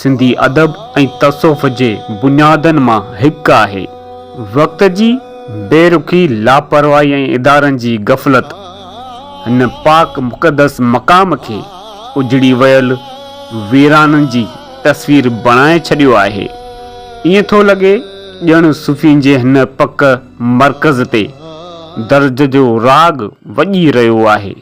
سنڌي ادب ۽ تصوف جي بنيادن مان هڪ آهي. وقت جي بي رخي، لاپرواهي ۽ ادارن جي غفلت هن پاڪ مقدس مقام کي اجڙي ويل ويرانن جي تصوير بڻائي ڇڏيو آهي. ائين ٿو لڳي ڄڻ صوفين جي هن پڪ مرڪز تي درد جو راڳ وڄي رهيو آهي.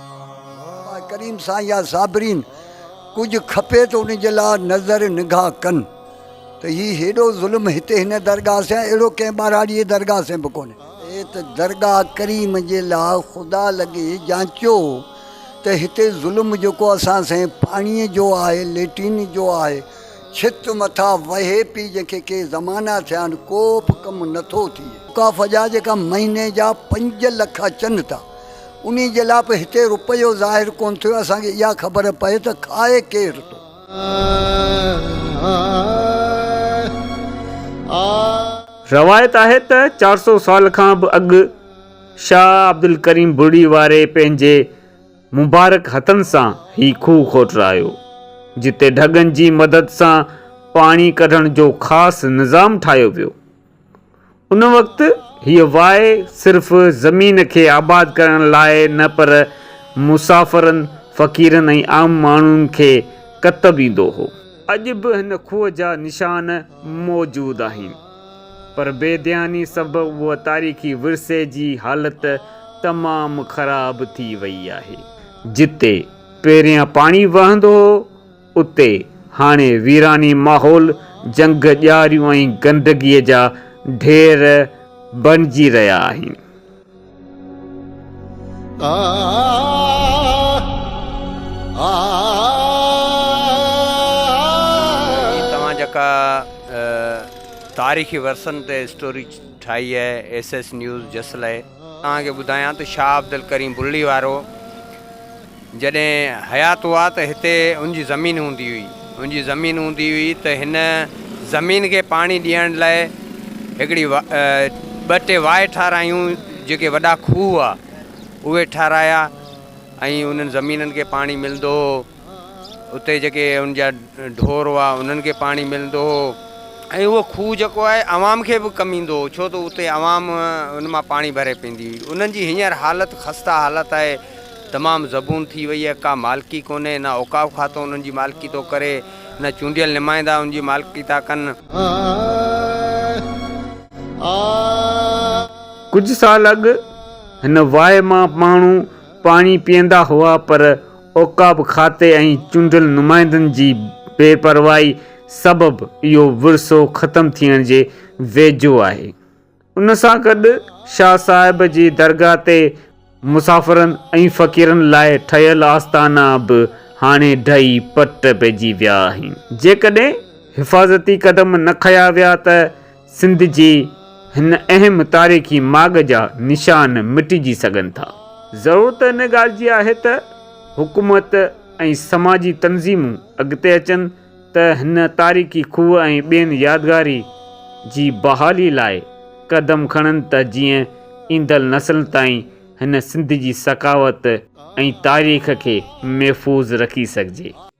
آء ڪريم سان يا صابرين ڪجهه کپي ته ان جي لاء نظر نگاهه ڪن ته هي هيڏو ظلم هتي هن درگاهه سين اهڙو ڪنهن ٻهراڙي جي درگاهه سين به ڪونهي. اي ته درگاهه ڪريم جي لاء خدا لڳي جانچيو ته هتي ظلم جيڪو اسان سين پاڻي جو آهي ليٽرين جو آهي ڇت مٿا وهي پي جنهن کي ڪي زمانا ٿيا آهن ڪو به ڪم نٿو ٿئي. ڪافه جا جيڪا مهيني جا پنج لک اچن ٿا انهي جي لاء به هتي روپيو ظاهر ڪونه ٿيو اسان کي اها خبر پئي ته کائي ڪير ٿو. روايت آهي ته چار سؤ سال کان به اڳ شاهه عبدالڪريم بڙي واري پنهنجي مبارڪ هٿن سان هي کوهه کوٽرايو جتي ڍڳن جي مدد سان پاڻي ڪڍڻ جو خاص نظام ٺاهيو ويو. ان وقت هيء واء صرف زمين کي آباد ڪرڻ لاء نه پر مسافرن، فقيرن ۽ عام ماڻهن کي ڪتب ايندو هو. اڄ به هن کوهه جا نشان موجود آهن، پر بي ڌياني سبب اهو تاريخي ورثي جي حالت تمام خراب ٿي وئي آهي. جتي پهريان پاڻي وهندو هو، اتي هاڻي ويراني ماحول، جنگ، ڄاريون ۽ گندگيء جا ڍير بڻجي رهيا آهن. جي توهان جيڪا تاريخي ورثن تي اسٽوري ٺاهي آهي ايس ايس نيوز جسلئي. توهان کي ٻڌايان ته شاهه عبدالڪريم برڙي وارو جڏهن حيات هئا ته هتي ان جي زمين هوندي هئي ان جي زمين هوندي هئي ته هن زمين کي پاڻي ڏيڻ لاء هڪڙي ٻه ٽي واء ٺارايون جيڪي وڏا کوهه هئا اهي ٺارايا ۽ انهن زمينن کي پاڻي ملندو هو اتي جيڪي ان جا ڍور هئا انهن کي پاڻي ملندو هو ۽ اهو کوهه جيڪو آهي عوام کي به ڪم ايندو هو ڇو ته اتي عوام ان مان پاڻي ڀري پيندي هئي انهن جي هينئر حالت خسته حالت آهي تمام زبون ٿي وئي آهي ڪا مالڪي ڪونهي نه اوقاف کاتو انهن جي مالڪي ٿو ڪري نه چونڊيل نمائندا ان جي مالڪي ٿا ڪن. ڪجهه سال اڳ هن واء مان ماڻهو پاڻي پيئندا هئا پر عقاب کاتي ۽ چونڊيل نمائندن جي بي پرواهي سبب اهو ورثو ختم ٿيڻ جي ويجهو آهي. ان سان گڏ شاهه صاحب جي درگاهه تي مسافرن ۽ فقيرن لاء ٺهيل آستانا به هاڻي ڊهي پٽ پئجي ويا آهن. جيڪڏهن حفاظتي قدم نه کنيا ويا ته سنڌ جي هن اهم تاريخي ماڳ جا نشان مٽجي سگهن ٿا. ضرورت ان ڳالهه جي آهي ته حڪومت ۽ سماجي تنظيمون اڳتي اچن ته هن تاريخي کوهه ۽ ٻين يادگاري جي بحالي لاء قدم کڻن ته جيئن ايندڙ نسلن تائين هن سنڌ جي ثقافت ۽ تاريخ کي محفوظ رکي سگهجي.